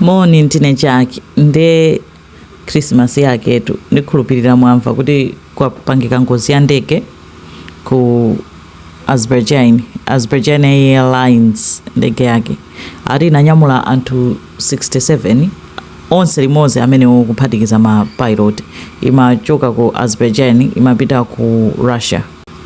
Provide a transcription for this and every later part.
Moni ndine Jack nde Christmas yaketu ndikhulupilira mwamva kuti kwapangika ngozi ya ndege ku Azerbaijan, Azerbaijan Airlines ndege yake ati inanyamula anthu 67 onse limodzi ameneo kuphatikiza ma pilot imachoka ku Azerbaijan imapita ku Russia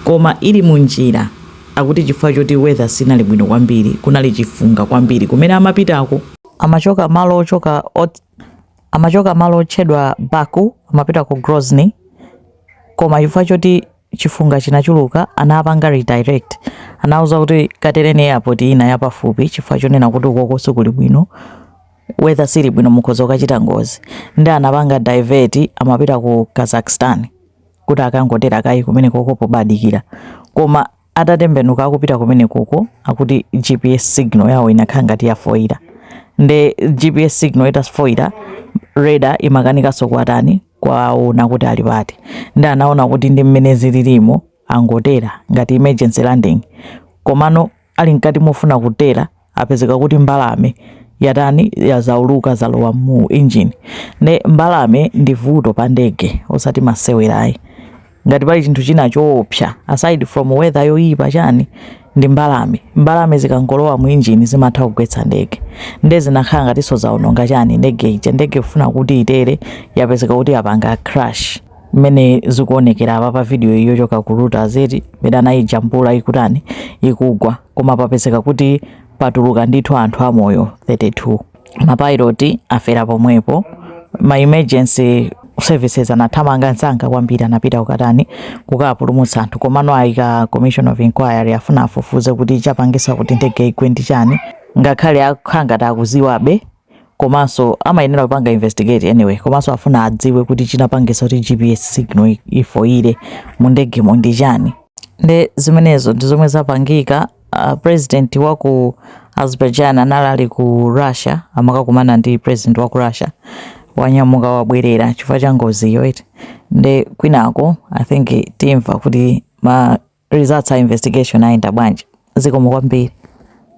koma ili munjira Akuti chifukwa choti weather sinali bwino kwambiri, kunali chifunga kwambiri kumene amapitako, amachoka malo otchedwa Baku amapita ku Grozny koma chifukwa choti chifunga chinachuluka anapanga redirect anauza kuti katereni airport ina yapafupi chifukwa chonena kuti ukoko sikuli bwino weather sili bwino mukhoza kukachita ngozi ndi anapanga divert amapita ku Kazakhstan kuti akangotera kaye kumenekoko pobadikira koma atatembenuka akupita kumenekoko akuti gps signal yawo inakhala ngati yafoira nde gps signal itafoira radar imakanikanso kuwatani kuwaona kuti ali pati ndi anaona kuti ndi mmene zililimo angotera ngati emergency landing komano Ali mkati mofuna kutera apezeka kuti mbalame yatani yazauluka zalowa mu engine ne mbalame ndi vuto pa ndege osati masewerayi ngati pali chinthu china choopsa aside from weather yoyipa chani ndi mbalame mbalame zikangolowa mu engine zimatha kugwetsa ndege nde zinakhala ngatinso zaononga chani ndege ija ndege kufuna kuti itere yapezeka kuti yapanga crash mmene zikuonekera apa pa video iyo yochoka ku Reuters eti mmene anayijambula ikutani ikugwa koma papezeka kuti patuluka ndithu anthu amoyo 32 mapayiloti afera pomwepo ma emergency services anathamanga msanga kwambiri anapita kukatani kukapulumutsa anthu komano ayika commission of inquiry afuna afufuze kuti chapangisa kuti ndege igwe ndi chani ngakhale akhala ngati akuziwabe komanso amayenera kupanga investigate anyway komanso afuna adziwe kuti chinapangisa kuti gps signal ifoire mu ndegemo ndi chani nde zimenezo ndi zomwe zapangika uh, president wa ku azerbaijan anali ali ku russia amakakumana ndi president wa ku russia wanyamuka wabwerera chifukwa cha ngoziyo eti nde kwinako i think timva kuti ma results a investigation ayenda bwanji zikomo kwambiri